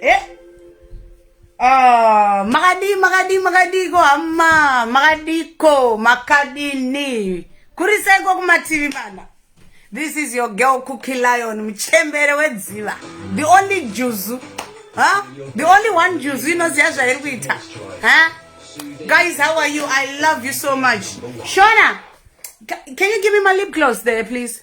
eh? Oh, makadii makadii makadiiko hama makadiiko makadini kurisaiko kumativi mana this is your girl cookie lion muchembere wedziva the only juzu huh? the only one juzu inoziva zvairi kuita huh? guys how are you i love you so much shona can you give me my lip gloss there please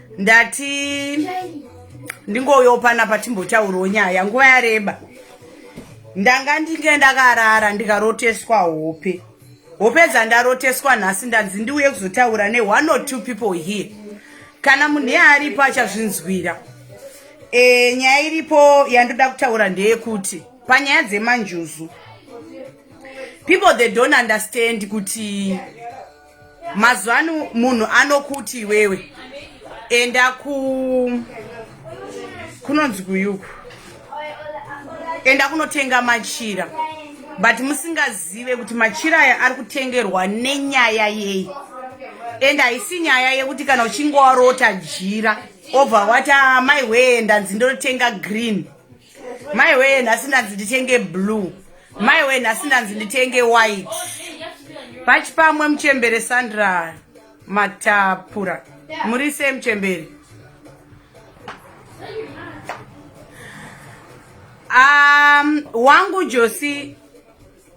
ndati ndingoyopana patimbotaurawo nyaya nguva yareba ndanga ndinge ndakarara ndikaroteswa hope hope dzandaroteswa nhasi ndanzi ndiuye kuzotaura ne one or two people here kana munhu yaaripo achazvinzwira e, nyaya iripo yandoda kutaura ndeyekuti panyaya dzemanjuzu people they don't understand kuti mazuva ano munhu anokuti iwewe enda ku kunonzi kuyuku enda kunotenga machira but musingazive kuti machira aya ari kutengerwa nenyaya yei and haisi nyaya yekuti kana uchinge warota jira obva wati amai ah, wee ndanzi ndinotenga green Mai wee nhasi ndanzi nditenge blue. Mai wee nhasi ndanzi nditenge white. Pachi pamwe muchembere Sandra Matapura. Muri sei muchembere? Um, wangu Josi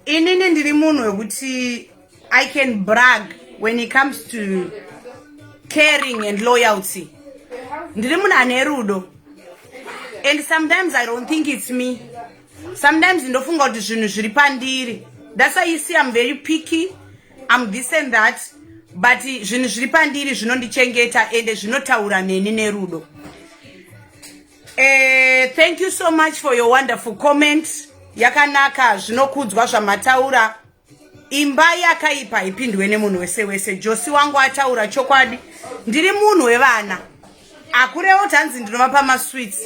inini ndiri munhu wekuti i can brag when it comes to caring and loyalty ndiri munhu ane rudo and sometimes i don't think it's me sometimes ndofunga kuti zvinhu zviri pandiri that's why you see i'm very picky i'm this and that but zvinhu zviri pandiri zvinondichengeta ende zvinotaura neni nerudo Eh, thank you so much for your wonderful comment. Yakanaka zvinokudzwa zvamataura. Imba yakaipa ipindwe nemunhu wese wese. Josi wangu ataura chokwadi. Ndiri munhu wevana. Akurewo tanzi ndinovapa masweets.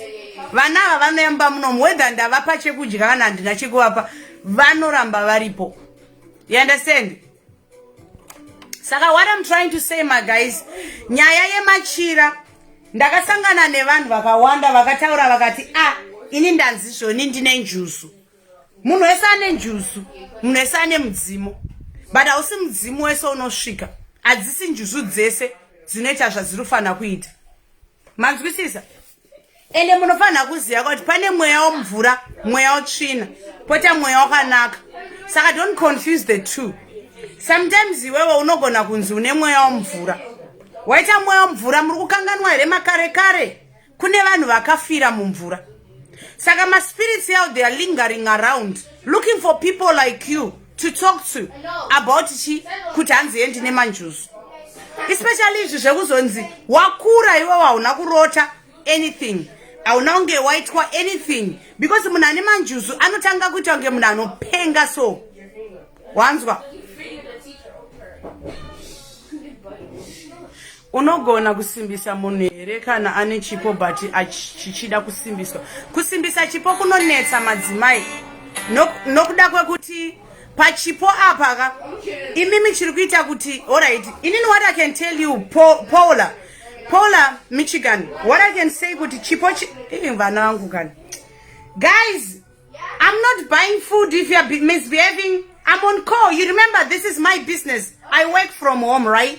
Vana ava vanoyamba munomu whether ndavapa chekudya kana handina chekuvapa vanoramba varipo. You understand? saka what i'm trying to say ma guys nyaya yemachira ndakasangana nevanhu vakawanda vakataura vakati ah ini ndanzi zvoni ndine njuzu munhu wese ane njuzu munhu wese ane mudzimu but hausi mudzimu wese unosvika hadzisi njuzu dzese dzinoita zvadziri kufanira kuita manzwisisa ende munofanira kuziva kuti pane mweya womvura mweya wotsvina pota mweya wakanaka saka don't confuse the two sometimes iwewe unogona kunzi une mweya womvura waita mweya womvura muri kukanganwa here makare kare kune vanhu vakafira mumvura saka maspirits yao they are lingering around looking for people like you to talk to about chi kuti hanzi endi nemanjuzu especially izvi zvekuzonzi wakura iwe wauna kurota anything hauna kunge waitwa anything because munhu ane manjuzu anotanga kuita kunge munhu anopenga so wanzwa unogona kusimbisa munhu here kana ane chipo but chichida kusimbiswa kusimbisa chipo kunonetsa madzimai nokuda kwekuti pachipo apa ka imimi chiri kuita kuti orit inini what i can tell you paula paula michigan what i can say kuti chipo vana vangu kani guys i'm not buying food if youare misbehaving i'm on call you remember this is my business i work from home right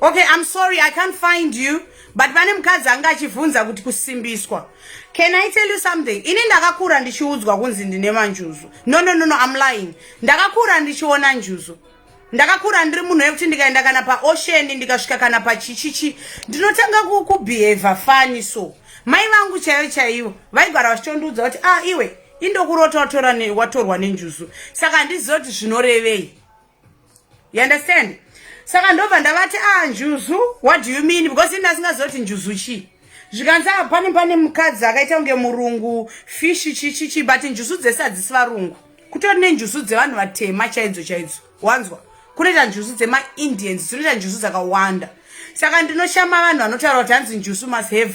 okay i'm sorry i can't find you but pane mukadzi anga achivhunza kuti kusimbiswa can i tell you something ini ndakakura ndichiudzwa kunzi ndine manjuzu no no no no i'm lying ndakakura ndichiona njuzu ndakakura ndiri munhu wekuti ndikaenda kana paosheni ndikasvika kana pachichichi ndinotanga kubehavha fani so mai vangu chaiyo chaivo vaigara vachitondiudza kuti a ah, iwe indokurota watorwa nenjuzu saka handiziva kuti zvinorevei you understand saka ndobva ndavati a ah, njuzu what do you mean because ini asingazoti njuzu chii zvikanzi a ah, pane pane mukadzi akaita kunge murungu fishi chichichi but njuzu dzese hadzisi varungu kutori nenjuzu dzevanhu vatema chaidzo chaidzo wanzwa kunoita njuzu dzemaindians dzinoita njuzu dzakawanda saka ndinoshama vanhu vanotaura kuti hanzi njuzu must have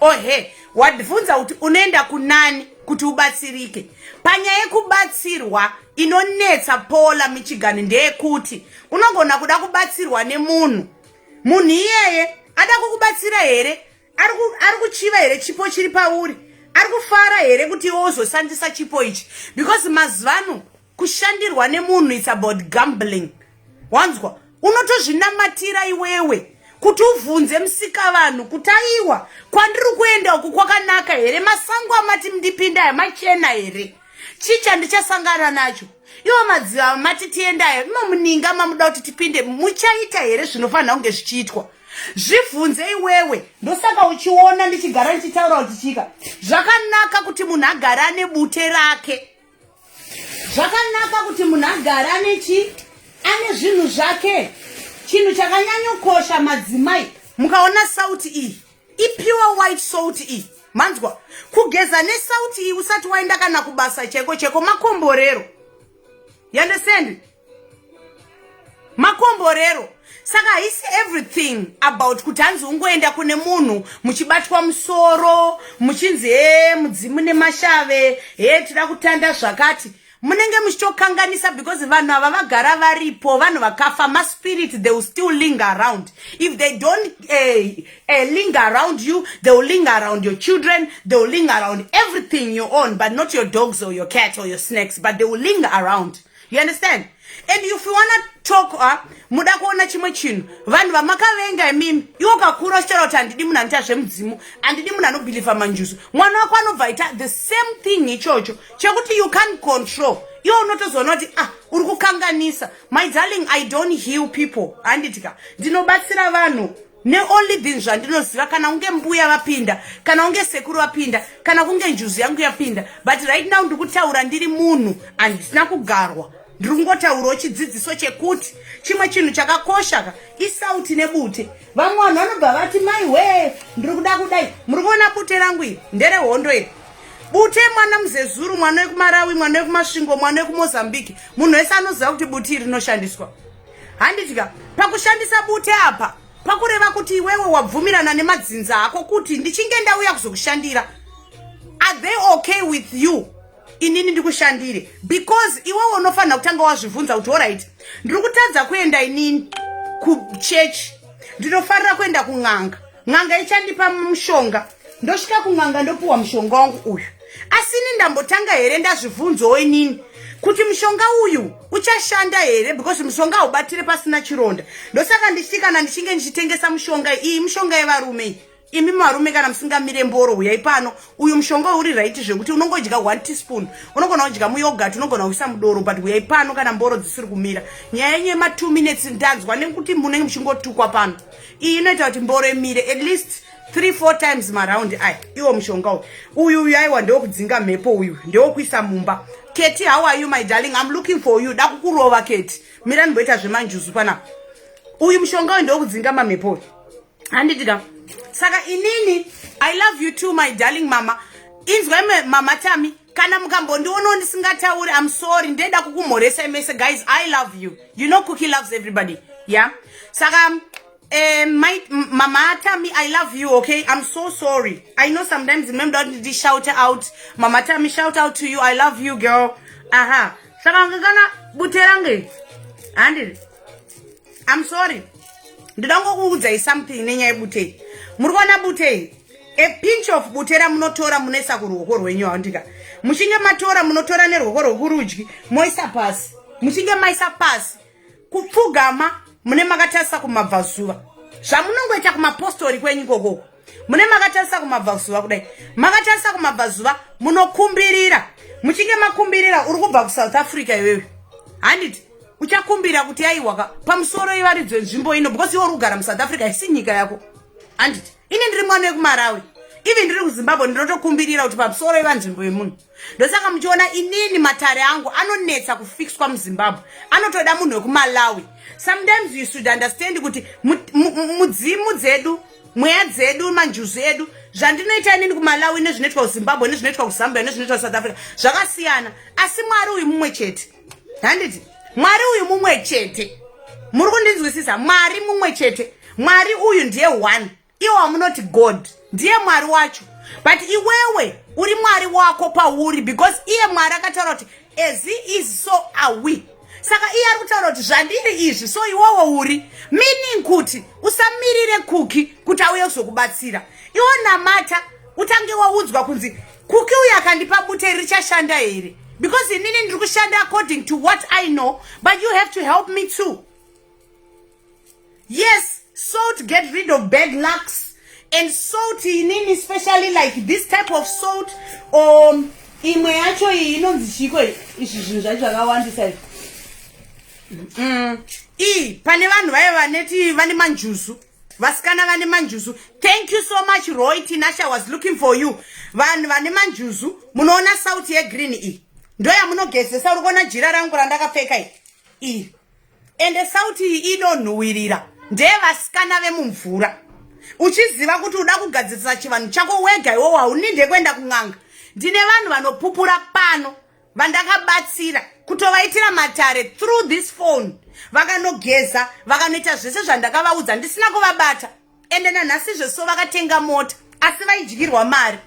ohe wadvunza kuti unoenda kunani kuti ubatsirike panyaya yekubatsirwa inonetsa pola michigani ndeyekuti unogona kuda kubatsirwa nemunhu munhu iyeye ada kukubatsira here ari kuchiva here chipo chiri pauri ari kufara here kuti iwe uzosandisa chipo ichi because mazuvano kushandirwa nemunhu it's about gambling wanzwa unotozvinamatira iwewe kuti uvhunze musika vanhu kuti aiwa kwandiri kuenda uku kwakanaka here masango amati mndipinda aya machena here chii chandichasangana nacho iwo madziva mati tiendayo imomuninga mamuda kuti tipinde muchaita here zvinofanira kunge zvichiitwa zvibvunze iwewe ndosaka uchiona ndichigara ndichitaura kuti chika zvakanaka kuti munhu agare ane bute rake zvakanaka kuti munhu agare ane chii ane zvinhu zvake chinhu chakanyanyokosha madzimai mukaona sauti iyi ipure white salt iyi manzwa kugeza nesauti iyi usati waenda kana kubasa chaiko chaiko makomborero yandesende makomborero saka haisi everything about kuti hanzi ungoenda kune munhu muchibatwa musoro muchinzi he mudzimu nemashave he tida kutanda zvakati munenge muchitokanganisa because vanhu ava vagara varipo vanhu vakafa maspirit they will still ling around if they don't uh, eh, uh, eh, ling around you they will ling around your children they will ling around everything you own but not your dogs or your cat or your snakes but they will ling around You understand? And if you wanna talk uh, muda kuona chimwe chinhu vanhu vamakavenga imimi iwo kakura uchitaura kuti handidi munhu anoita zvemudzimu handidi munhu anobhilivha manjuzu mwana wako anobva aita the same thing ichocho chekuti you can control iwo unotozoona kuti ah uri kukanganisa my darling i don't heal people handiti ka ndinobatsira vanhu ne only bin zvandinoziva kana kunge mbuya vapinda kana kunge sekuru vapinda kana kunge njuzu yangu yapinda but right now ndiri kutaura ndiri munhu handisina kugarwa ndiri kungotaurawo chidzidziso chekuti chimwe chinhu chakakoshaka isauti nebute vamwe vanhu vanobva vati mai wee ndiri kuda kudai muri kuona bute rangu iri nderehondo iri bute mwana muzezuru mwana wekumarawi mwana wekumasvingo mwana wekumozambique munhu wese anoziva kuti buti iri rinoshandiswa handidya pakushandisa bute apa pakureva kuti iwewe wabvumirana nemadzinza ako kuti ndichinge ndauya kuzokushandira are they okay with you inini ndikushandire because iwewe unofanira kutanga wazvibvunza kuti orit ndiri kutadza kuenda inini kuchechi ndinofanira kuenda kun'anga n'anga ichandipa mushonga ndosvika kun'anga ndopiwa mushonga wangu uyu asi ini ndambotanga here ndazvibvunzawo inini kuti mushonga uyu uchashanda here because mushonga haubatire pasina chironda ndosaka ndichiti kana ndichinge ndichitengesa mushonga iyi mushonga yevarume iyi imi marume kana musingamire mboro huyai pano uyu mushonga uri raiti zvekuti unongodya one teaspoon unogona kudya muyogat unogona kuisa mudoro but huyai pano kana mboro dzisiri kumira nyaya yenyu yema two minutes ndanzwa nekuti munenge muchingotukwa pano iyi inoita kuti mboro imire at least three four times maraundi aya iwo mushonga uyu uyu uyu aiwa ndewokudzinga mhepo uyu ndewokuisa mumba keti how are you my darling im looking for you da kukurova keti mira ndimboita zvemanjuzu pana uyu mushonga uyu ndewokudzinga mamhepo uyu handiti ka saka inini i love you too my darling mama inzwa imwe mama tami kana mukambondionawo ndisingatauri am sorry ndeda kukumhoresai mese guys i love you you know cookie loves everybody yeah saka um, my, mama atami i love you okay i'm so sorry i know sometimes remember kuti ndishout out mama atami shout out to you i love you girl aha saka ngekana bute range handiri I'm sorry. Ndida ngokuudzai something nenyaya butei. Muri kuona butei? A pinch of butera munotora munoisa kuruoko rwenyu awandika. Muchinge matora munotora neruoko rwokurudyi moisa pasi. Muchinge maisa pasi kupfugama mune makatarisa kumabvazuva. Zvamunongoita kumapostori kwenyu kokoko. mune makatarisa kumabvazuva kudai makatarisa kumabvazuva munokumbirira muchinge makumbirira uri kubva kusouth africa iwewe handiti uchakumbira kuti yaiwaka pamusoro ivaridzwe nzvimbo ino because iwe uri kugara musouth africa isi nyika yako handiti ini ndiri mwana wekumarawi even ndiri kuzimbabwe ndinotokumbirira kuti pamusoro iva nzvimbo yemunhu ndosaka muchiona inini matare angu anonetsa kufixwa muzimbabwe anotoda munhu wekumalawi sometimes you should understand kuti mudzimu dzedu mweya dzedu manjuzu edu zvandinoita inini kumalawi nezvinoitwa kuzimbabwe nezvinoitwa kuzambia nezvinoitwa kusouth africa zvakasiyana asi mwari uyu mumwe chete handiti mwari uyu mumwe chete muri kundinzwisisa mwari mumwe chete mwari uyu ndiye one iwo wamunoti god ndiye mwari wacho but iwewe uri mwari wako pauri because iye mwari akataura kuti as he is so awe saka iye ari kutaura kuti zvandiri izvi so iwowo uri meaning kuti usamirire kuki kuti auye kuzokubatsira iwo namata utange waudzwa kunzi kuki uyo akandipa bute richashanda here because inini ndiri kushanda according to what i know but you have to help me too Yes, salt get rid of bad lucks and salt inini especially like this type of salt or um, imwe yacho iyi inonzi chiko izvi zvinhu zvacho zvakawandisa izvi mm. ii pane vanhu vaive vaneti vane manjuzu vasikana vane manjuzu thank you so much roy tinasha was looking for you vanhu vane manjuzu munoona sauti yegreen iyi ndoyamunogezesa uri kuona jira rangu randakapfeka iyi ende sauti iyi inonhuwirira ndeye vasikana vemumvura uchiziva kuti uda kugadzirisa chivanhu chako wega iwowo hauninde kuenda kun'anga ndine vanhu vanopupura pano vandakabatsira kutovaitira matare through this phone vakanogeza vakanoita zvese zvandakavaudza ndisina kuvabata ende nanhasi zveso vakatenga mota asi vaidyirwa mari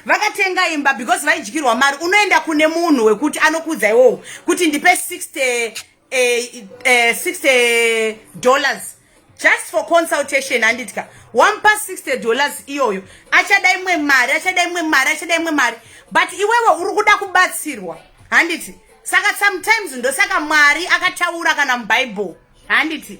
vakatenga imba because vaidyirwa mari unoenda kune munhu wekuti anokuudza iwowo kuti ndipe 60 eh, eh, 60 dollars just for consultation handitya wamupa 60 dollars iyoyo achada imwe mari achada imwe mari achada imwe mari but iwewe uri kuda kubatsirwa handiti saka sometimes ndosaka mwari akataura kana mubhaibheri handiti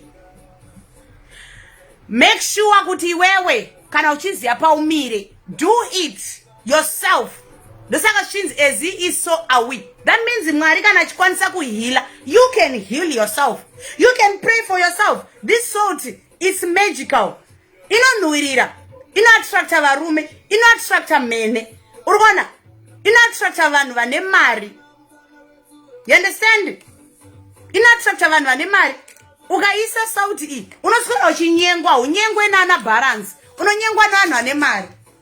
make sure kuti iwewe kana uchiziva paumire do it yourself ndosaka zvichinzi as he is so are we that means mwari kana achikwanisa kuheala you can heal yourself you can pray for yourself this salt its magical inonhuwirira inoattracta varume inoattracta mhene uri kuona inoattracta vanhu vane mari you understand inoattracta vanhu vane mari ukaisa sauti iyi unoswera uchinyengwa unyengwe nana balance unonyengwa nevanhu vane mari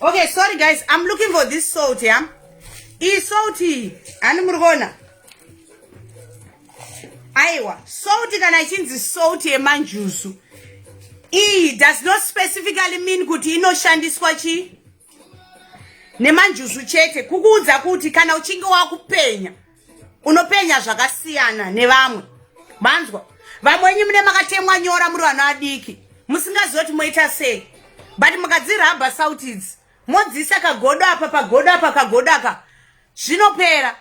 okay sorry guys i'm looking for this salt ya iyi salt iyi hani muri kuona aiwa salt kana ichinzi salt yemanjuzu iyi does not specifically mean kuti inoshandiswa chii nemanjuzu chete kukuudza kuti kana uchinge wakupenya unopenya zvakasiyana nevamwe manzwa vamwe wenyu mune makatemwa nyora muri vana vadiki musingazivi kuti moita sei but mukadzirabha sauti idzi modziisa kagodo apa pagodo apa kagodo aka zvinopera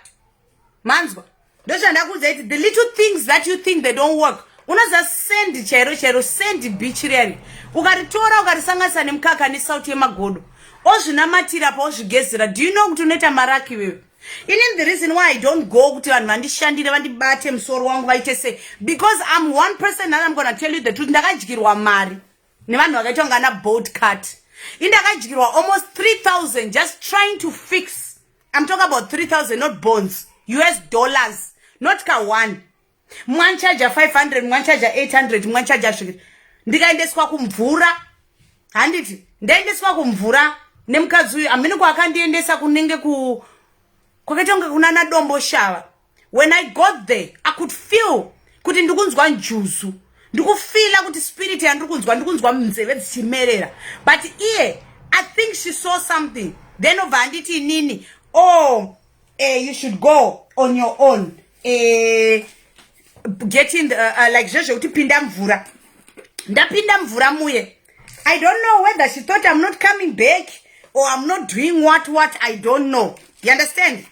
manzwa ndozvandakuudza iti the little things that you think they don't work unoziva sendi chairo chairo sendi beach riyani ukaritora ukarisanganisa nemukaka nesauti yemagodo ozvinamatira paozvigezera do you know kuti unoita maraki iwewe Inin the reason why I don't go kuti vanhu vandishandire vandibate musoro wangu vaite se because I'm one person and I'm gonna tell you the truth ndakadyirwa mari nevanhu vakaitwa ngana boat cut indakadyirwa almost 3000 just trying to fix I'm talking about 3000 not bonds US dollars not ka one mwanchaja 500 mwanchaja 800 mwanchaja svikiri ndikaendeswa kumvura handiti ndaendeswa kumvura nemukadzi uyu amene kwaakandiendesa kunenge ku kwakaita kunge kunana dombo shava when i got there i could feel kuti ndikunzwa njuzu ndikufila kuti spirit yandiri kunzwa ndikunzwa munzeve dzichimerera but iye i think she saw something then obva anditi inini o oh, eh, you should go on your own eh, get in the, uh, uh, like zvezvekuti pinda mvura ndapinda mvura muye i don't know whether she thought i'm not coming back or i'm not doing what what i don't know you understand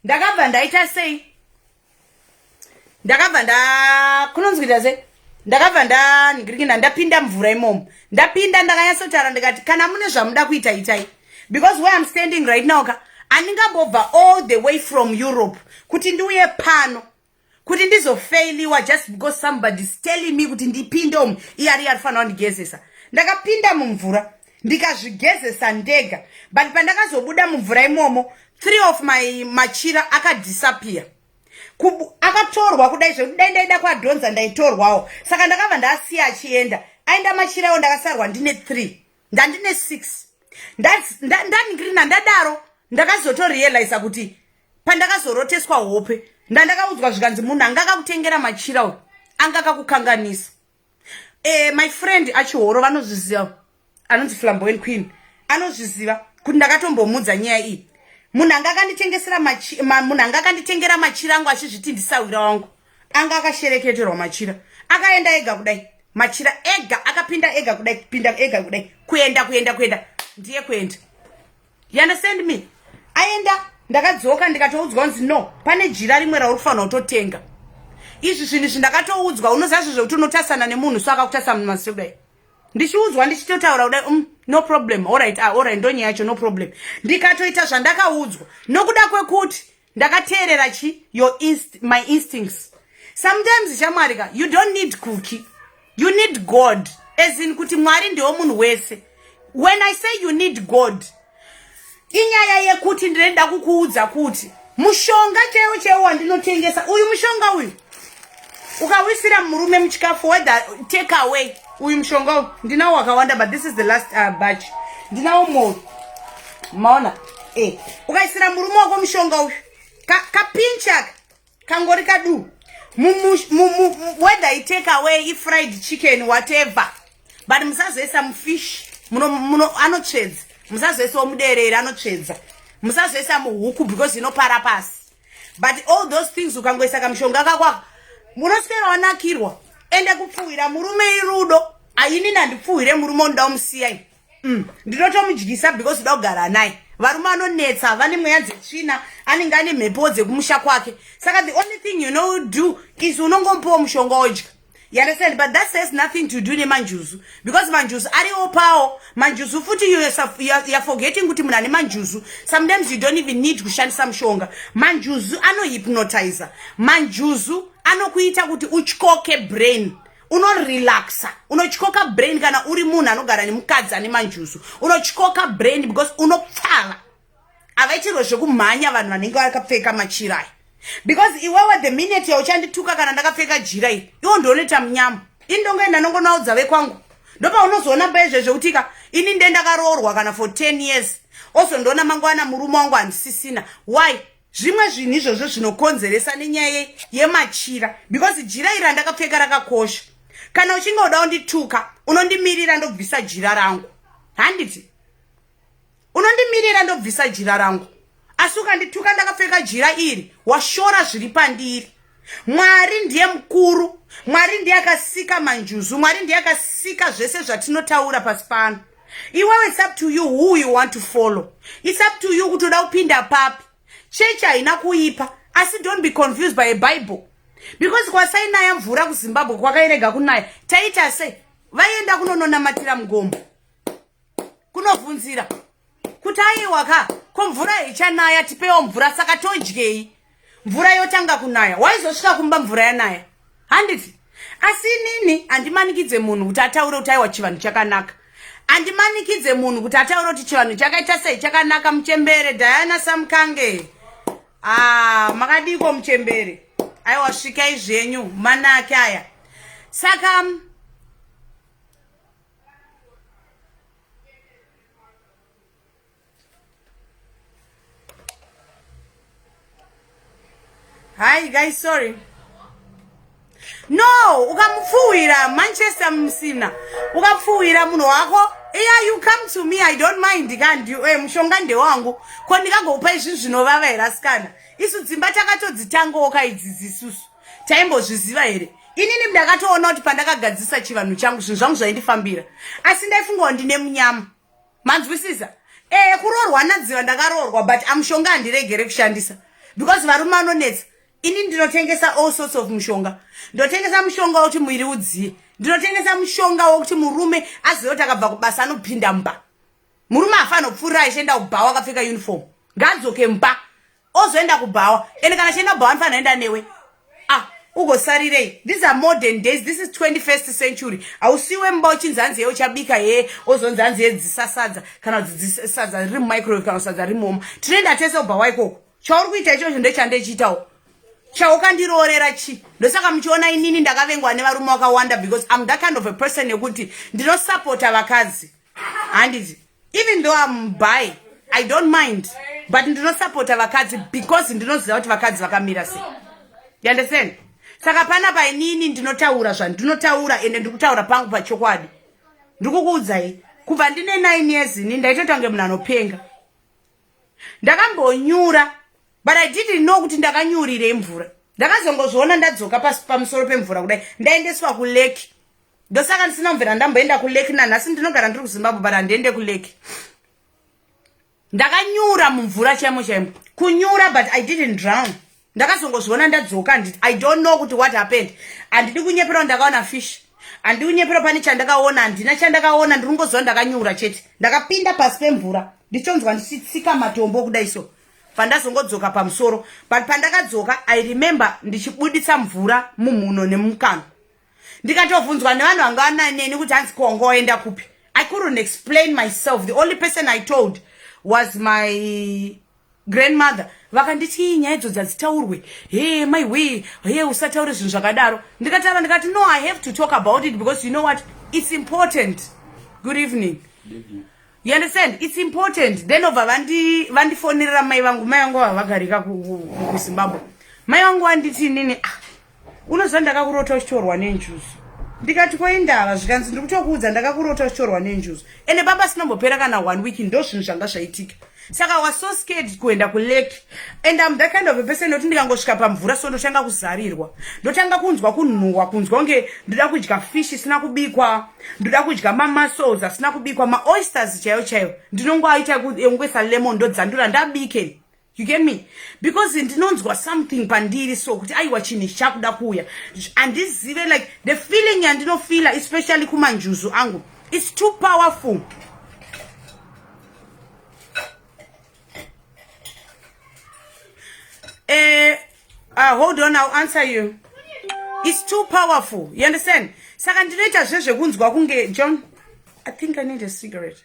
ndakabva ndaita sei ndakabva nda kunonzwira sei ndakabva ndangirikina ndapinda mvura imomo ndapinda ndakanyatsotaura ndikati kana mune zvamuda kuita itai because where im standing right now ka andingambobva all the way from europe kuti ndiuye pano kuti ndizofailiwa just because somebody is telling me kuti ndipinde umu iyari yarifanira kundigezesa ndakapinda mumvura ndikazvigezesa ndega but pandakazobuda mumvura imomo three of my machira akadisappear akatorwa kudai zvekuti dai ndaida kuadhonza ndaitorwawo saka ndakabva ndaasiya achienda aenda machira iwo ndakasarwa ndine three ndandine six ndaningirina ndadaro ndakazotorealiza kuti pandakazoroteswa hope ndandakaudzwa zvikanzi munhu anga akakutengera machira uyu anga akakukanganisa eh, my friend achihoro vanozviziva anonzi flamboen queen anozviziva kuti ndakatombomudza nyaya iyi munhu anga akanditengesera munhu anga akanditengera machira angu achizviti ndisahwira wangu anga akashereketerwa machira akaenda ega kudai machira ega akapinda ega kudai pinda ega kudai kuenda kuenda kuenda ndiye kuenda you understand me aenda ndakadzoka ndikatoudzwa kunzi no pane jira rimwe rauri kufanira kutotenga izvi zvinhu izvi ndakatoudzwa unoziva zve zvekuti unotasana nemunhu so akakutasa munhu masi kudai ndichiudzwa ndichitotaura kudai um no problem orit ah, orit ndonyaya yacho no problem ndikatoita zvandakaudzwa nokuda kwekuti ndakateerera chi your inst my instincts sometimes shamwari ka you don't need cookie you need god as in kuti mwari ndiwo munhu wese when i say you need god inyaya yekuti ndinoda kukuudza kuti mushonga chaiwo chaiwo wandinotengesa uyu mushonga uyu ukawisira murume muchikafu whether take away uyu mushonga ndinawo wakawanda but this is the last uh, batch ndinawo mou maona e eh, ukaisira murume wako mushonga uyu kapinchaka kangori kaduu whether i take away ifried chicken whatever but musazoisa mufish anotsvedza musazoisawo muderere anotsvedza musazoisa muhuku because inopara pasi but all those things ukangoisa kamushonga kakwako munoswera wanakirwa ende kupfuhwira murume irudo ayini nandipfuhwire murume ondoda umusiyai mm. ndinotomudyisa because ndoda kugara naye varume anonetsa vane mweya dzetsvina anenge ane mhepo dzekumusha kwake saka the only thing you know do is unongomupiwa mushonga odya You understand? But that says nothing to do nemanjuzu because manjuzu ari opawo manjuzu futi you are forgetting kuti munhu ane manjuzu sometimes you don't even need kushandisa mushonga manjuzu anohypnotizer manjuzu anokuita kuti utyoke brain unorelaxa unotyoka brain kana uri munhu anogara nemukadzi ane manjuzu unotyoka brain because unopfala avaitirwe zvekumhanya vanhu vanenge vakapfeka machira aya because iwewe the minute yauchandituka kana ndakapfeka jira iri iwo ndioneta munyama ini ndongoenda ndongonaudza vekwangu ndopaunozoona mba izvezvo kutika ini nde ndakaroorwa kana for ten years also ndoona mangwana murume wangu handisisina why zvimwe zvinhu izvozvo zvinokonzeresa nenyaya yemachira because jira iri randakapfeka rakakosha kana uchinge uda undituka unondimirira ndobvisa jira rangu handiti unondimirira ndobvisa jira rangu asi ukandituka ndakapfeka jira iri washora zviri pandiri mwari ndiye mukuru mwari ndiye akasika manjuzu mwari ndiye akasika zvese zvatinotaura pasi pano iwewe its up to you who you want to follow its up to you kuti uda kupinda papi chechi haina kuipa asi don't be confused by a bible because kwasainaya mvura kuzimbabwe kwakairega kunaya taita se vaienda kunononamatira mugombo kunovhunzira kuti aiwa ka ko mvura haichanaya tipewo mvura saka todyei mvura yotanga kunaya waizosvika kumba mvura yanaya handiti asi inini handimanikidze munhu kuti ataure kuti aiwa chivanhu chakanaka handimanikidze munhu kuti ataure kuti chivanhu chakaita sei chakanaka muchembere diana samkange a ah, makadiko muchembere aiwa svikai zvenyu manake aya saka Hi guys, sorry. No, ukamupfuwira Manchester msina. Ukamupfuwira munhu wako. Yeah, you come to me, I don't mind kandi you. Eh, mushonga ndewangu. Ko ndikagokupa izvi zvinovava here asikana? Isu dzimba takatodzitangoka idzi dzisusu. taimbozviziva here inini ndakatoona kuti pandakagadzisa chivanhu changu zvinhu zvangu zvaindifambira asi ndaifungawo ndine munyama manzwisisa ee kuroorwa nadziva ndakaroorwa but amushonga handiregere kushandisa because varume vanonetsa ini ndinotengesa all sorts of mushonga ndotengesa mushonga wokuti muiri udziye ndinotengesa mushonga wokuti murume azive kuti akabva kubasa anopinda mba murume afanopfuurira achienda kubhawa akapfeka uniform ngaadzoke mba ozoenda kubhawa ende kana achienda kubhawa anofana enda newe ah ugosarirei these are modern days this is 21st century hausiwe mba uchinzi hanzi ye uchabika hee ozonzi hanzi ye dzisasadza kana kuti sadza riri mumicrowave kana sadza riri moma tinoenda tese kubhawa ikoko chauri kuita ichocho ndechandechiitawo chaukandiroorera chi ndosaka muchiona inini ndakavengwa nevarume vakawanda because am that kind of a person yekuti ndinosapota vakadzi handizi even though am by i don't mind but ndinosapota vakadzi because ndinoziva kuti vakadzi vakamira se you understand saka pana painini ndinotaura zvandinotaura ende ndikutaura pangu pachokwadi ndikukuudzai kubva ndine nine years ini ndaitoita kunge munhu anopenga ndakambonyura but i didn't know kuti ndakanyurire imvura ndakazongozviona ndadzoka pamusoro pemvura kudai ndaendeswa kuleki ndosaka ndisina kumvera ndamboenda kuleki nanhasi ndinogara ndiri kuzimbabwe but handiende kuleki ndakanyura mumvura chaimo chaimo kunyura but i didn't drown ndakazongozviona ndadzoka handiti i don't know kuti what happened handidi kunyeperawo ndakaona fish handidi kunyepera pane chandakaona handina chandakaona ndiri kungoziva ndakanyura chete ndakapinda pasi pemvura ndichonzwa ndichitsika matombo kudai so pandazongodzoka pamusoro but pandakadzoka i remember ndichibuditsa mvura mumhuno nemukanwa ndikatovhunzwa nevanhu vanga vana neni kuti hanzi kongo oenda kupi i couldn't explain myself the only person i told was my grandmother vakanditi nyaya idzo dzadzitaurwe he my way he usataure zvinhu zvakadaro ndikatara ndikati no i have to talk about it because you know what it's important good evening you understand it's important then obva vandifonerera mai vangu mai vangu vavagarika kuzimbabwe mai vangu vanditi nini ah unoziva ndakakurota uchitorwa nenjuzu ndikati koindava zvikanzi ndiri kutokuudza ndakakurota uchitorwa nenjuzu ende baba sinombopera kana one week ndo zvinhu zvanga zvaitika saka was so scared kuenda kulake and am that kind of a person noti ndikangosvika pamvura so ndotanga kuzarirwa ndotanga kunzwa kunhuhwa kunzwa kunge ndoda kudya fish isina kubikwa ndoda kudya mamuscles asina kubikwa maoysters chaiyo chaiyo ndinongoaita yongoisa lemon ndodzandura ndabike you get me because ndinonzwa something pandiri so kuti aiwa chinhu ichi chakuda kuuya handizive like the feeling yandinofila especially kumanjuzu angu its too powerful eh, uh, hold on i'll answer you its too powerful you understand saka ndinoita zvezvekunzwa kunge john i think i need a cigarette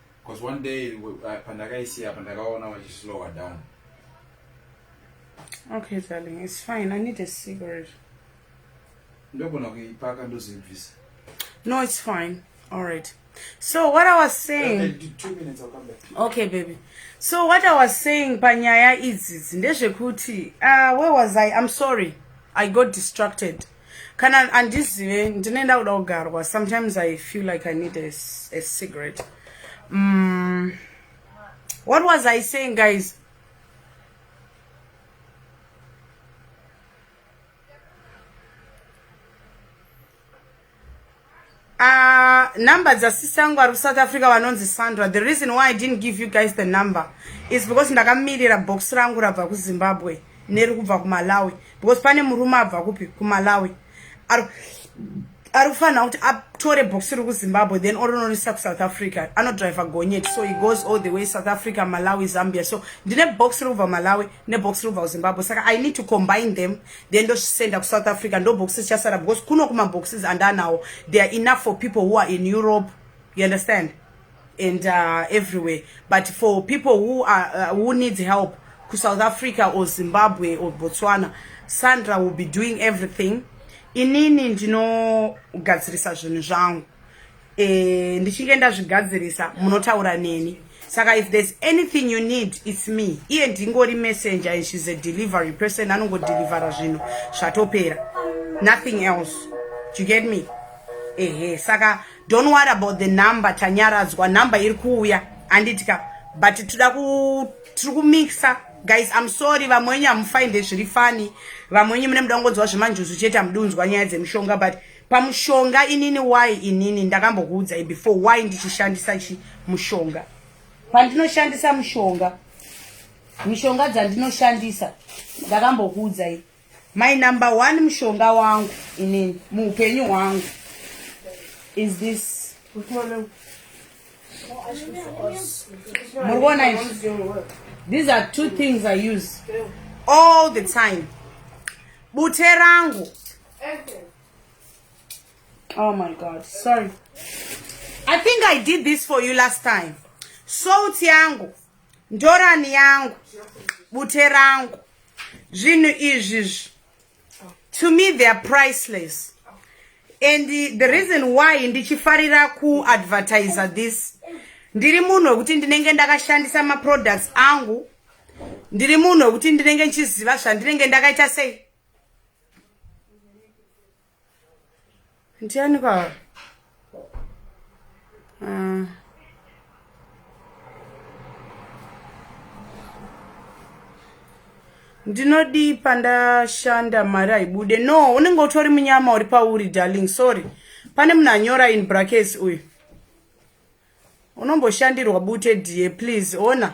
Cause one day pandakaisiya apa ndakaona vachislower down. Okay darling, it's fine. I need a cigarette. Ndogona kuipaka ndozibvisa. No, it's fine. All right. So what I was saying okay, two minutes, I'll come back. Okay baby. So what I was saying panyaya idzi ndezvekuti uh, where was I? I'm sorry. I got distracted. kana andizive ndine ndakuda kugarwa sometimes i feel like i need a, a cigarette mm, what was i saying guys Uh, number dzasisangu ari kusouth africa vanonzi sandra the reason why i didn't give you guys the number is because ndakamirira box rangu rabva kuzimbabwe neri kubva kumalawi because pane murume abva kupi kumalawi ari ari kufanira kuti atore box riri kuzimbabwe then oronorisa kusouth africa anodriver gonyeti so he goes all the way south africa malawi zambia so ndine box riri kubva malawi nebox riri kubva kuzimbabwe saka i need to combine them then ndosenda kusouth africa ndoboxes chasara because kuno kumaboxes andanawo they are enough for people who are in europe you understand and uh, everywhere but for people who, are, uh, who needs help ku south africa or zimbabwe or botswana sandra will be doing everything inini ndinogadzirisa zvinhu zvangu eh, ndichinge ndazvigadzirisa munotaura neni saka if there's anything you need its me iye ndingori messenger and she's a delivery person anongodelivera zvinhu zvatopera nothing else Do you get me ehe saka don't worry about the number tanyaradzwa number iri kuuya handiti ka but tida ku tiri kumixa guys i'm sorry vamwe wenyu hamufinde zviri fani vamwe wenyu mune muda kungonzwa zvemanjuzu chete hamudunzwa nyaya dzemushonga but pamushonga inini why inini ndakambokuudzai before why ndichishandisa chi mushonga pandinoshandisa mushonga mishonga dzandinoshandisa ndakambokuudzai my number one mushonga wangu inini muupenyu hwangu is this muri kuona izvi these are two things i use all the time bute rangu Oh my God, sorry. I think I did this for you last time. Salt yangu, ndorani yangu, bute rangu, zvinhu izvi. To me they are priceless. And the, the reason why ndichifarira ku advertiser this ndiri munhu wekuti ndinenge ndakashandisa maproducts angu ndiri munhu wekuti ndinenge ndichiziva zvandinenge ndakaita sei ndiani ka ah. ndinodii pandashanda mari haibude no unenge utori munyama uri pauri darling sorry pane munhu anyora in brackets uyu unomboshandirwa bute die please ona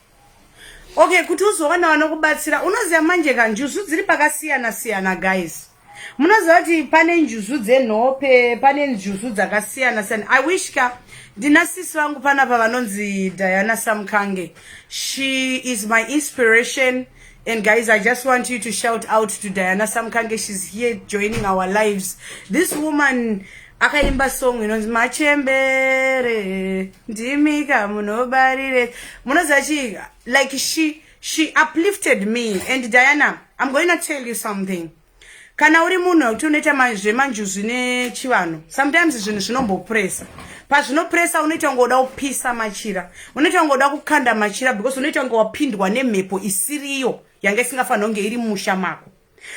okay kuti uzowana vanokubatsira unoziva manje ka njuzu dziri pakasiyana siyana guys munoziva kuti pane njuzu dzenhope pane njuzu dzakasiyana siyana i wish ka ndina sisi vangu panapa vanonzi diana samkange she is my inspiration And guys, I just want you to shout out to Diana Samkange. She's here joining our lives. This woman, akaimba song inonzi machembere ndimika munobarire munoziva chii like she she uplifted me and diana i'm going to tell you something kana uri munhu wekuti unoita zvemanjuzu nechivanhu sometimes zvinhu zvinombopresa pazvinopresa unoita kunge uda kupisa machira unoita kunge uda kukanda machira because unoita kunge wapindwa nemhepo isiriyo yanga isingafanira kunge iri musha mako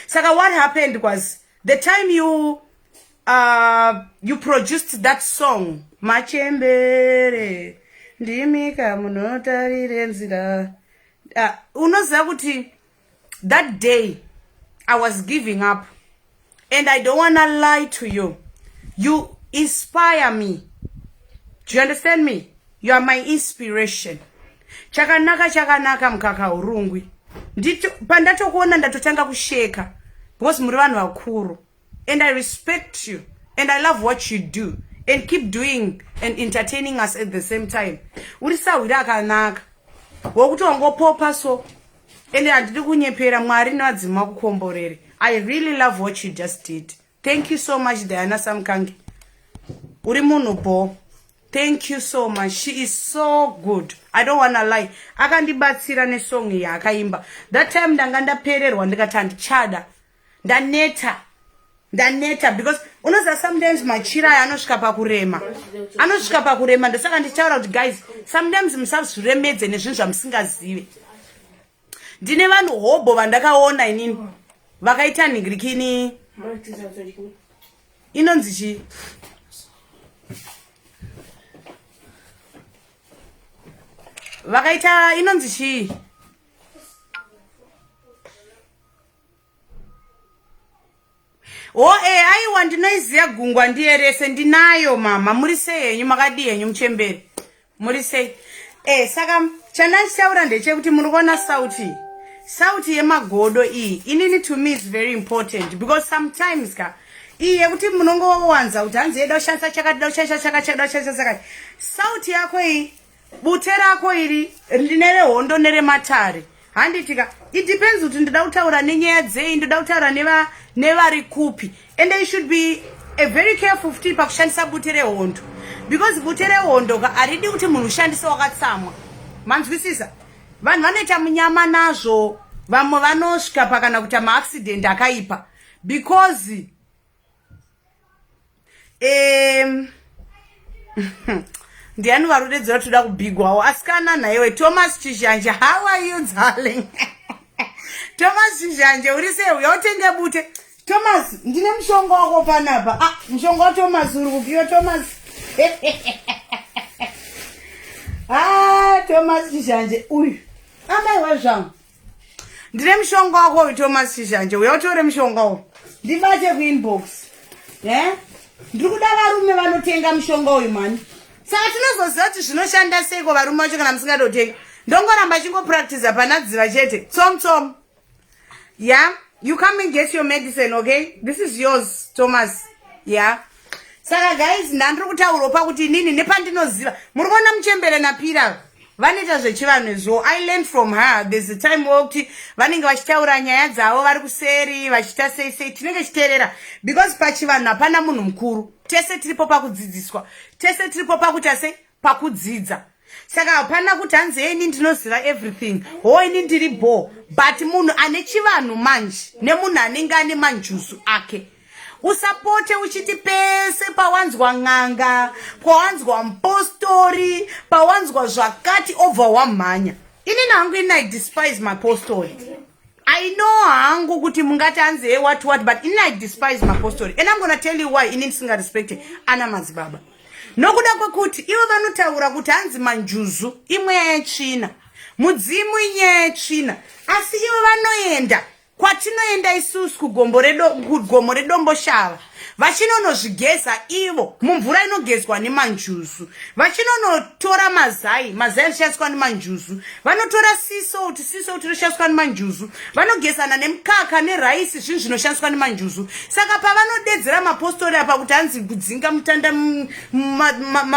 saka what happened was the time you uh, you produced that song machembere ndimika munotarire nzira uh, unoziva kuti that day i was giving up and i don't wanna lie to you you inspire me do you understand me you are my inspiration chakanaka chakanaka mukaka urungwi ndito pandatokuona ndatotanga kusheka because muri vanhu vakuru and I respect you and I love what you do and keep doing and entertaining us at the same time uri sahwiri akanaka wokuti wangopopa so ende handidi kunyepera mwari nevadzima kukomborere i really love what you just did thank you so much diana samkangi uri munhu bo thank you so much she is so good i don't wanna lie akandibatsira nesong yaakaimba that time ndanga ndapererwa ndikati handichada ndaneta ndaneta because unoziva sometimes machira aya anosvika pakurema anosvika pakurema ndosaka ndichitaura kuti guys sometimes musazviremedze nezvinhu zvamusingazive ndine vanhu hobho vandakaona inini vakaita nhingirikini inonzi chii vakaita inonzi chii o e aiwa ndinoiziva gungwa ndiye rese ndinayo mama muri sei henyu makadii henyu muchemberi muri sei e saka chandachichaura ndechekuti muri kuona sauti sauti yemagodo iyi inini to me is very important because sometimes ka iyi yekuti munongowanza kuti hanzi yeda kushandisa chakati da kushandisa chakachada kushandisa sakati sauti yako iyi bute rako iri nerehondo nerematare handitika it depends kuti ndoda kutaura nenyaya dzei ndoda kutaura nevari kupi and i should be a very careful futi pakushandisa bute rehondo because bute rehondo ka haridi kuti munhu ushandise wakatsamwa manzwisisa vanhu vanoita munyama nazvo vamwe vanosvika pakana kuita maaccident akaipa because um, ndiani varudedzera toda kubigwawo asikana nhaiwe thomas chizhanje how are you darling thomas chizhanje uri sei uya utenge bute thomas ndine mushonga wako panapa ah, mushonga wathomas uri kupiwa thomas ah, thomas chizhanje uyu amaiwa zvangu ndine mushonga wako uyu thomas chishanje uya utore mushonga uyu ndibate kuinbox e ndiri kuda varume vanotenga mushonga uyu mani saka tinozoziva kuti zvinoshanda seiko varume vacho kana musingatotenga ndongoramba chingopractiza pana dziva chete tsom tsom ya yeah? you come and get your medicine okay this is yours thomas ya yeah? saka guys ndandiri kutaurwa pakuti inini nepandinoziva muri kuona muchembere napira vanoita zvechivanhu izvo i learn from her there's a time wokuti vanenge vachitaura nyaya dzavo vari kuseri vachiita sei sei tinenge chiteerera because pachivanhu hapana munhu mukuru tese tiripo pakudzidziswa tese tiripo pakuita sei pakudzidza saka hapana kuti hanzi e ini ndinoziva everything ho ini ndiri bho but munhu ane chivanhu manje nemunhu anenge ane manjuzu ake usapote uchiti pese pawanzwa n'anga pawanzwa mupostori pawanzwa zvakati obva wamhanya inini hangu ini i despise mapostori I know hangu kuti mungati anzi hey what what but ini I despise mapostori and I'm gonna tell you why ini ndisinga respecte ana madzibaba nokuda kwekuti ivo vanotaura kuti hanzi manjuzu imweya yetsvina mudzimu inyaya yetsvina asi ivo vanoenda kwatinoenda isusu kugomo redomboshava vachinonozvigeza ivo mumvura inogezwa nemanjuzu vachinonotora mazai mazai anoshandiswa nemanjuzu vanotora sisout sisout inoshandiswa nemanjuzu vanogezana nemukaka neraisi zvinhu zvinoshandiswa nemanjuzu saka pavanodedzera mapostori apa kuti hanzi kudzinga mutanda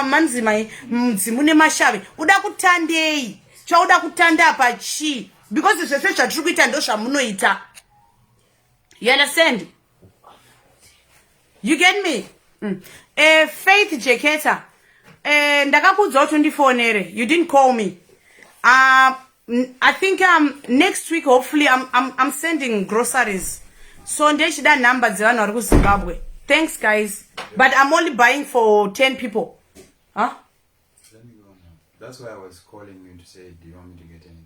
manzimai mudzimu nemashave uda kutandei chauda kutanda apa chii because zvese zvatiri kuita ndozvamunoita you understand you get me mm. uh, faith jeketa uh, eh, ndakakuudza kuti undifonere you didn't call me uh, i think um, next week hopefully I'm, I'm, I'm sending groceries so ndechida number dzevanhu vari kuzimbabwe thanks guys but i'm only buying for 10 people huh? That's why I was calling you to say, do you want me to get anything?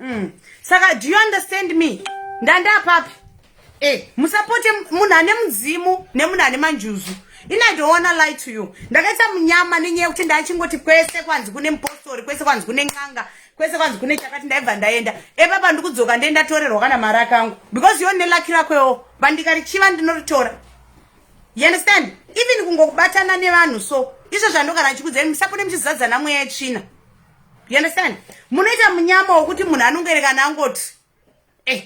mm. saka do you understand me ndandapapi e eh, musapote munhu ane mudzimu nemunhu ane manjuzu ini i don't wanna lie to you ndakaita munyama nenyaya yekuti ndachingoti kwese kwanzi kune mupostori kwese kwanzi kune n'anga kwese kwanzi kune chakati ndaibva ndaenda epapa ndikudzoka ndee ndatorerwa kana mari akangu because yo nelaki rakwewo bandika richiva ndinoritora you understand even kungokubatana nevanhu so izvo zvandogara ndichikudzai musapone muchizadzana mweya yetsvina you understand munoita munyama wokuti munhu anongoerekana angoti eh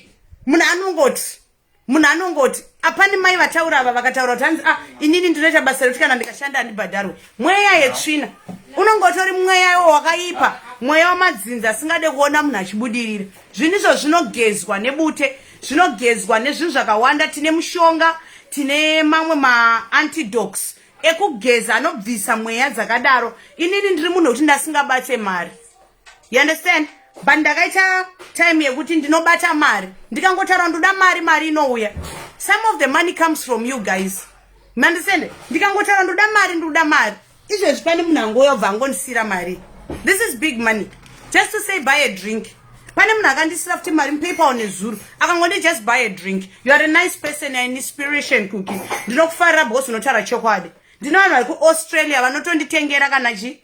munhu anongoti munhu anongoti apani mai vataura ava vakataura kuti hanzi ah inini ndinoita basa rekuti kana ndikashanda handibhadharwe mweya yetsvina unongotori mweya iwo wakaipa mweya wamadzinza asingade kuona munhu achibudirira zvinhu izvo zvinogezwa nebute zvinogezwa nezvinhu zvakawanda tine mushonga tine mamwe maantidox ekugeza anobvisa mweya dzakadaro inini ndiri munhu wekuti ndasingabate mari you understand but ndakaita time yekuti ndinobata mari ndikangotaura ndoda mari mari inouya some of the money comes from you guys mandisende ndikangotaura ndoda mari ndoda mari izvezvi pane munhu angouya ubva angondisiyira mari this is big money just to say buy a drink pane munhu akandisira futi mari mupaper one zuru akangondi just buy a drink you are a nice person an inspiration cooki ndinokufarira bhos unotaura chokwadi ndine vanhu vari kuaustralia vanotonditengera kana chii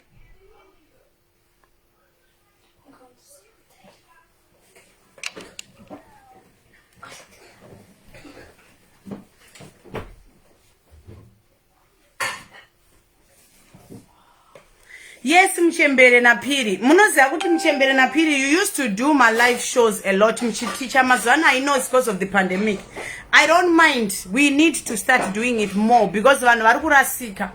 yes muchembere naphiri munoziva kuti muchembere naphiri you used to do my live shows a lot muchiticha mazuva ano i know it's because of the pandemic i don't mind we need to start doing it more because vanhu vari kurasika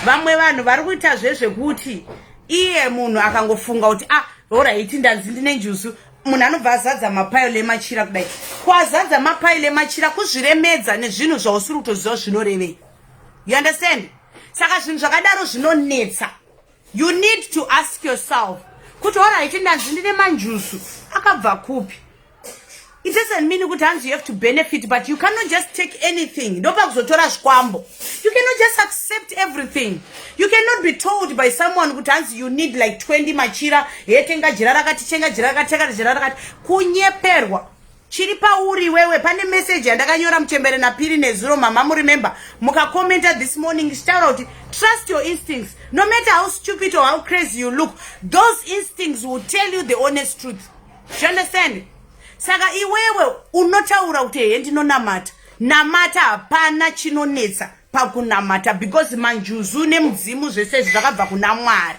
vamwe vanhu vari kuita zvezvekuti iye munhu akangofunga kuti ah horaiti ndanzi ndine njuzu munhu anobva azadza mapailo emachira kudai kwazadza mapailo emachira kuzviremedza nezvinhu zvausiri kutoziva zvinorevei you understand saka zvinhu zvakadaro zvinonetsa you need to ask yourself kuti oraiti ndanzi ndine manjusu akabva kupi it doesn't mean kuti hanzi you have to benefit but you cannot just take anything ndopakuzotora zvikwambo you cannot just accept everything you cannot be told by someone kuti hanzi you need like 20 machira he tenga jira rakati tenga jira rakati tenga jira rakati kunyeperwa chiri pauri wewe pane message yandakanyora muchembere napiri nezuro mama muremember mukacommenta this morning ndichitaura kuti trust your instincts no matter how stupid or how crazy you look those instincts will tell you the honest truth you understand saka iwewe unotaura kuti hee ndinonamata namata hapana chinonetsa pakunamata because manjuzu nemudzimu zvese izvi zvakabva kuna mwari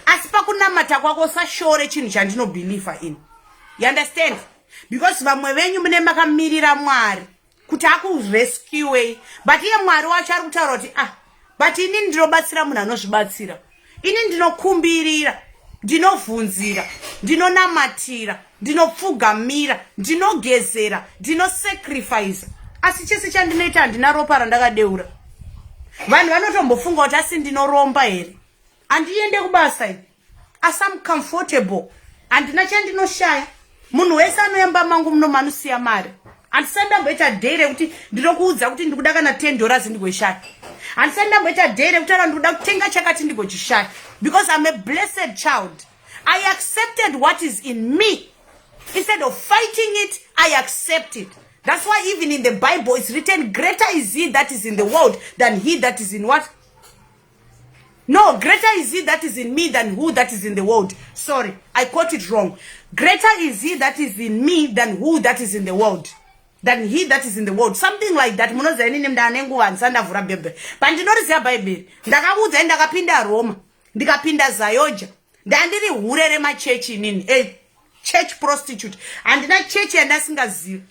asi pakunamata kwako usashore chinhu chandinobhilivha ini you understand because vamwe venyu mune makamirira mwari kuti akurescuwei but iye mwari wacho ari kutaura kuti ah but ini ndinobatsira munhu anozvibatsira ini ndinokumbirira ndinovhunzira ndinonamatira ndinopfugamira ndinogezera ndinosacrifice asi chese chandinoita handina ropa randakadeura vanhu vanotombofunga kuti asi ndinoromba here handiende kubasa i asi am comfortable handina chandinoshaya munhu wese anoyamba mangu muno manusiya mari handisati ndamboita day rekuti ndinokuudza kuti ndikuda kana ten dollars ndigoishaya handisati ndamboita day rekutaura ndikuda kutenga chakati ndigochishaya because im a blessed child i accepted what is in me instead of fighting it i accept it that's why even in the bible it's written greater is he that is in the world than he that is in what No, greater is he that is in me than who that is in the world. Sorry, I caught it wrong. Greater is he that is in me than who that is in the world. Than he that is in the world. Something like that. Munoziva inini mnda ane nguva ndisandavhura bhebhe. Pandinoriziva Bhaibheri. Ndakakuudzai ndakapinda Roma. Ndikapinda Zayoja. Ndandiri hure remachechi inini. A church prostitute. Handina chechi yandasingazivi.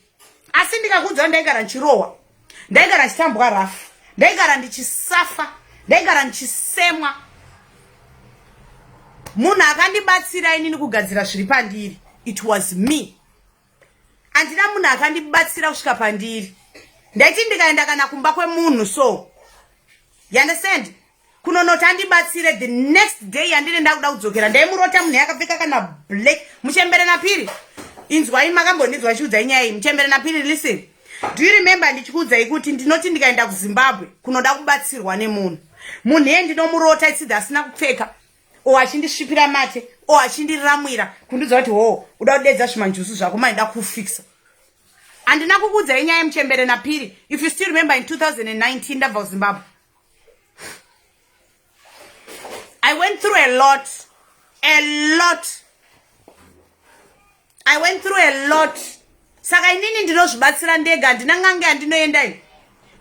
asi ndikakuudza ndaigara ndichirohwa ndaigara ndichitambwa rafu ndaigara ndichisafa ndaigara ndichisemwa munhu akandibatsira inini kugadzira zviri pandiri it was me handina munhu akandibatsira kusvika pandiri ndaiti ndikaenda kana kumba kwemunhu so you understand kunonoti andibatsire the next day yandine ndakuda kudzokera ndaimurota munhu yakapfeka kana black muchembere napiri inzwai makambondinzwa chiudzai nyaya iyi muchembere napiri listen do you remember ndichikuudzai kuti ndinoti ndikaenda kuzimbabwe kunoda kubatsirwa nemunhu munhu iye ndinomurota isidhi asina kupfeka o achindisvipira mate o achindiramwira kundiudza kuti hoo uda kudedza zvimanjusu zvako maida kufikisa handina kukuudzai nyaya yemuchembere napiri if you still remember in 2019 ndabva kuzimbabwe I went through a lot. A lot. I went through a lot. Saka inini ndinozvibatsira ndega handina ngange handinoenda ini.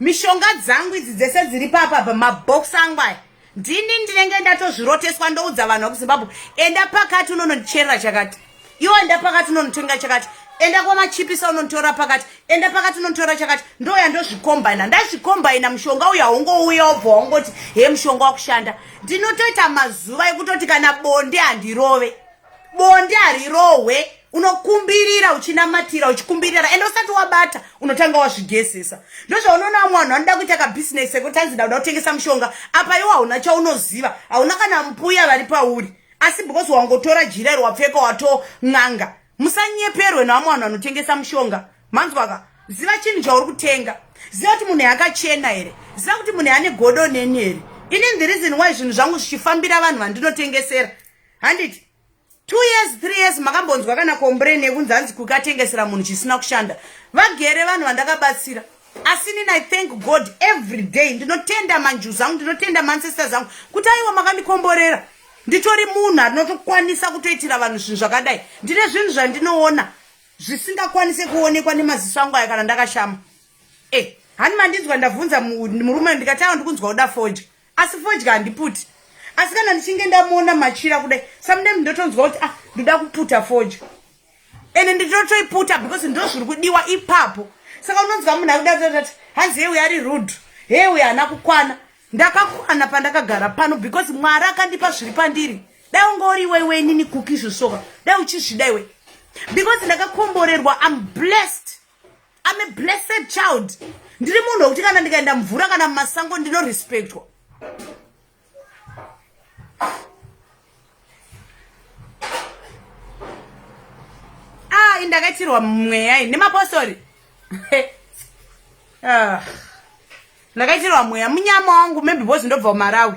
Mishonga dzangu idzi dzese dziri papa pamabox angu aya. Ndini ndinenge ndatozviroteswa ndoudza vanhu vekuZimbabwe enda pakati unonondicherera chakati. iwo enda pakati unonitenga chakati enda kwamachipisa unonditora pakati enda pakati unonditora chakati ndoya ndozvikombaina ndazvikombaina mushonga uya ungouya obva wangoti he mushonga wakushanda ndinotoita mazuva ekutoti kana bonde handirove bonde harirohwe unokumbirira uchinamatira uchikumbirira ende usati wabata unotanga wazvigesesa ndozvaunoona vamwe vanhu vanoda kuita kabhizinesi ekuti anzi dauda kutengesa mushonga apa iwo hauna chaunoziva hauna kana mpuya vari pauri asi because wangotora jira iri wapfeka wato n'anga musanyeperwe nevamwe vanhu vanotengesa mushonga manzwaka ziva chinhu chauri kutenga ziva kuti munhu yakachena here ziva kuti munhu ane godo neni here inini the reason why zvinhu zvangu zvichifambira vanhu vandinotengesera handiti two years three years makambonzwa kana kombrain yekunzi hanzi kukatengesera munhu chisina kushanda vagere vanhu vandakabatsira asi nini i thank god every day ndinotenda manjuzi angu ndinotenda maancestors angu kuti aiwa makandikomborera nditori munhu anotokwanisa kutoitira vanhu zvinhu zvakadai ndine zvinhu zvandinoona zvisingakwanise kuonekwa nemaziso angu aya kana ndakashama e eh, hani mandinzwa ndavhunza murume ndikati awa ndikunzwa kuda fodya asi fodya handiputi asi kana ndichinge ndamuona machira kudai samudem ndotonzwa kuti ah ndoda kuputa fodya ende ndinotoiputa because ndo zviri kudiwa ipapo saka unonzwa munhu akudatati hanzi heuyo ari rude heuyo haana kukwana ndakakwana pandakagara pano because mwari akandipa zviri pandiri dai ungori iweiwe inini kuki zvosoka dai uchizvida iwe because ndakakomborerwa im blessed im a blessed child ndiri munhu wekuti kana ndikaenda mvura kana mumasango ndinorespectwa Ah, indakaitirwa mweya ini nemapostori ah. ndakaitirwa mweya munyama wangu maybe bozi ndobva umarawi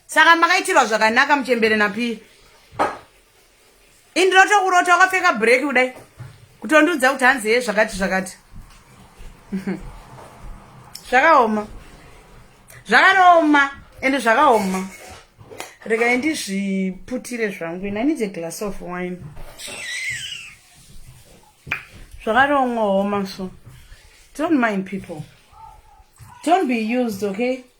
saka makaitirwa zvakanaka muchembere napii Indiroto kurota wakapfeka break kudai. Kutondiudza kuti hanzi ye zvakati zvakati. Zvakaoma. Zvakaoma ende zvakaoma. Rega ndizviputire zvangu. I need a glass of wine. Zvakaoma so. Don't mind people. Don't be used, okay?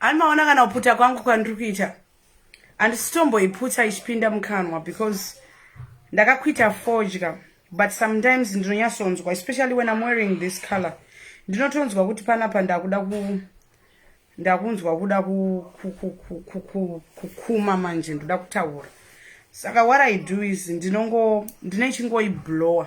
Ani maona kana kuputa kwangu kwandiri kuita. handisitomboiputsa ichipinda mukanwa because ndakakuita fodya but sometimes ndinonyatsonzwa especially when im wearing this color ndinotonzwa kuti panapa ndakuda ku ndakunzwa kuda kukuma manje ndoda kutaura saka what i do is ndinongo ndine chingoiblower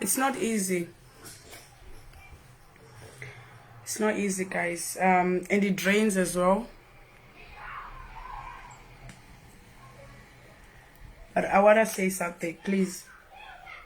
it's not easy it's not easy guys um and it drains as well but i want to say something please